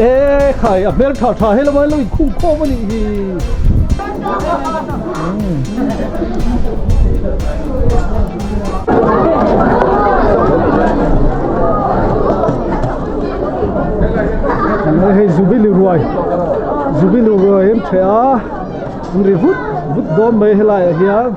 Eee khai a hmel tha tha hello hello in khung khawm anih hi hei zubili ruai zubili ruai an che a an ri vut vut dawn mai helai ah hian--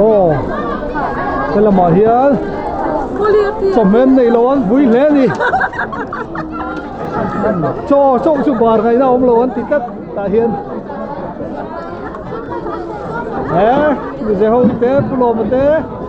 Aw helamah hian chawhmem neih loh an vui hle a ni chaw chauh chu bar ngaihna a awm lo an ti tlat tah hian he mize ho te pu lawmte.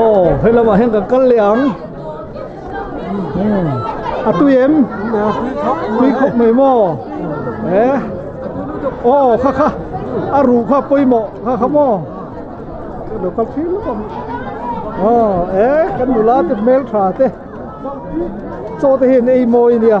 aw he lamah hian kan kal leh ang a tui em tui khawp mai maw he aw kha kha a ruh kha pawimawh kha kha maw lo kal phir lutuk ang aw e kan nula te hmeltha te chaw te hian ei mawi a nia.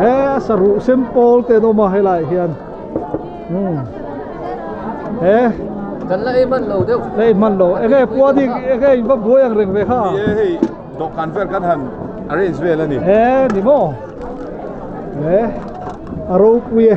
he a saruh sem pawl te an awm a helai ah hian umm he la ei hman lo deuh la ei hman lo eng nge puani enge in va buai ang reng ve kha ni e hei dawhkan vel kan han arrange vel a ni he ni maw he a ropui e.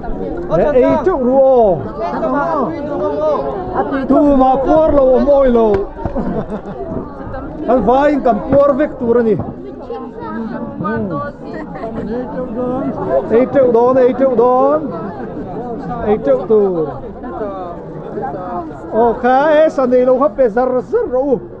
He ei teuh ru aw. Tumah puar lo awm awi lo. Kan vai in kan puar vek tur a ni. Ei teuh dawn, ei teuh dawn. Ei teuh tur. Aw kha e sanei lo kha pe zar zar rawh u.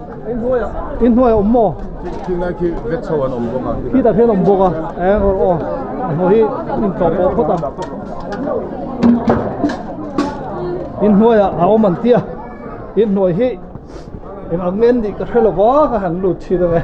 I hnuaiah awm maw? Khi ngai khi vet chho an awm bawk a. Khi tah khian a awm bawk a. Eng awrh aw, a hnuai hi in tlawh pawh phawt a. In hnuaiah a awm an tia, i hnuai hi engah ngen nih ka hre lo va ka han lut chhin ang e.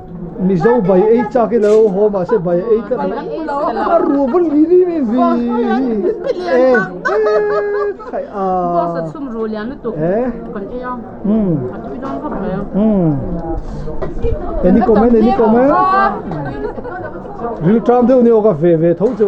Mizo bai ei chak ilo haw mahse bai ei tlat ang a a ruah vun vi vi mai vi any comment any comment rilṭam deuh ni awk a ve ve tho chu.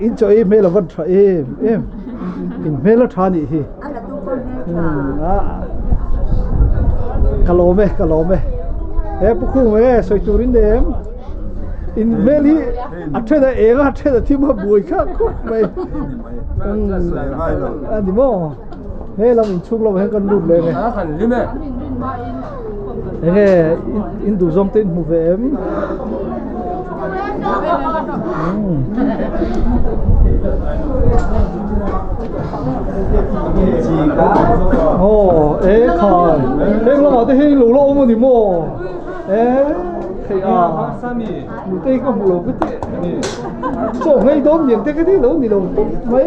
Inchawih hmel a vawn tha em em inhmel a tha anih hi ka lawm e ka lawm e he pu khung e sawi tur in em inhmel hi a then a eng a a then a thim a buai khak khawp mai a ni maw he lam inchhung lamah hian kan lut leh nge. Enge in duh zawng te in hmu ve em? Aw e khan heng lamah te hian in lo la awm a ni maw e theih a mitei ka hmuh lo ka ti chaw ngei dawn lian te ka ti lo ni lo tawp mai.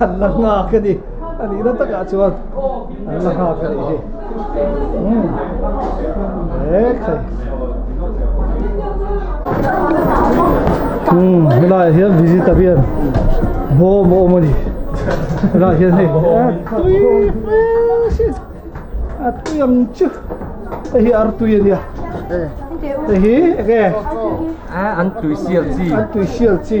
An la nghak a ni, a nihna takah chuan an la nghak a nih hi. Umm he laiah hian visitor hian bawm a awm a ni. Helaiah hian hei a tui ang chu, hei hi artui a nia, hei hi enge? An tui sial chi.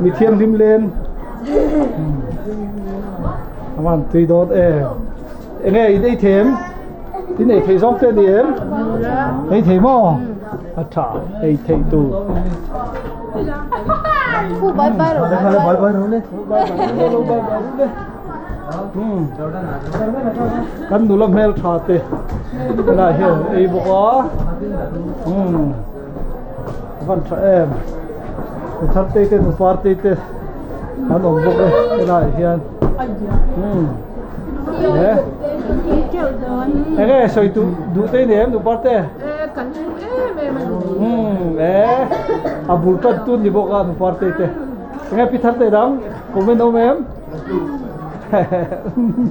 Mi thianghlim len Ama an tui dawn e Eng nge i nei thêm? I nei thei zawng te ni em? Nei thei maw? A tha nei thei tu Kan nula hmeltha te tunah hian ei bawk a. Ka hman tha em! He Tharte te nu Parte te an awm bawk e helai ah hian umm he enge sawi duh duh te nen nu Parte? Ehh kan hmu em em a ni umm ehh a bul ṭan tun ni bawk a nu Parte te enge Pi Tharte dang comment a awm em? Hehehe umm.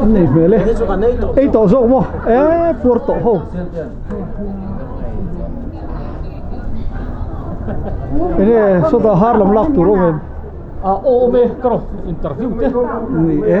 a nei hmel e ei tawh zawk maw eeii puar tawh ho enge sawtah har lam lak tur awm em a awm e ka rawn interview te ni e.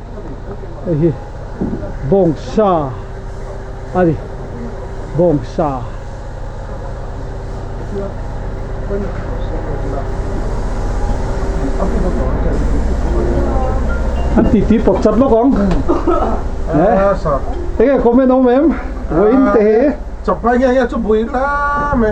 heihi bawngsa a ni bawngsa an titi pawt chat lawk ang enge comment a awm em vawiin tehi chawp mai ngiah ngiah chu buai lam e.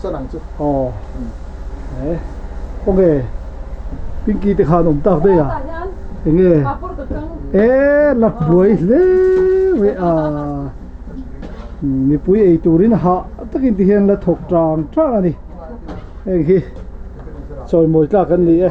chuan ang chu. Aw e awge Pinky te khan awm tak daih a enge e Latbuai hle mai a mipui ei turin ha tak in ti hian la thawk tang tang a ni heng hi chawimawi tlak an ni e.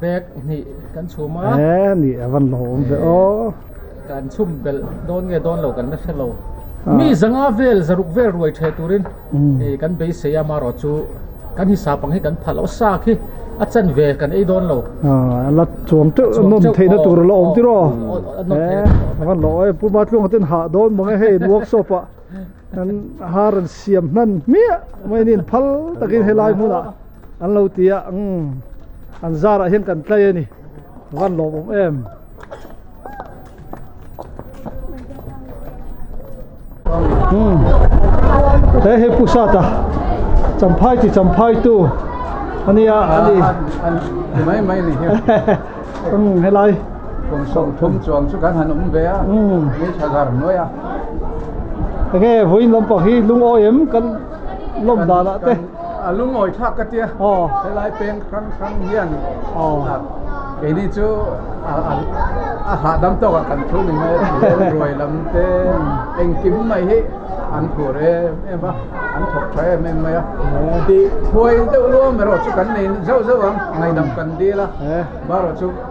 bag hnih kan chhum a eeh ni a van hlawh awm ve aw kan chhum belh dawn nge dawn lo kan la hre lo mi zanga vel zaruk vel ruai the turin hei kan beisei a amarawh chu kan hi sap ang hi kan phah loh sa khi a chan ve kan ei dawn lo a la chuang teuh a nawm theih na tur a la awm tiraw eeh a van hlawh aw puma tlung atin hah dawn mawng e hei workshop ah kan har an siam hman hmiah mai ni phal takin helai hmunah. An lo ti a, Umm, an zarah hian kan tlai a ni, van lawm awm em. Umm, he hi Pu Sata, Champhai chi Champhaitu a nia a ni. An ti mai mai a ni hian. Umm, helai. Kum sawmthum chuang chu kan han awm ve a, ni tha zar hnuaia. Enge vawiin lampang hi lungawi em kan. lawm danah te a lungawithlak ka tia helai peng hrang hrang hian keini chu a hahdam tawk ah kan thu ni maw ruai lam te engkim mai hi an phur em em a an thawk tha em em mai a tih khuai deuh luam erawh chu kan nei zauh zauh ang ngaidam kan dil a barawh chu--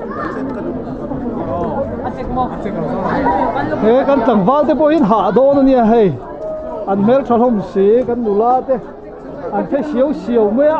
He kan tlangval te pawhin hah dawn a nia hei, an hmeltha hlawm si kan nula te an phe siau siau mai a.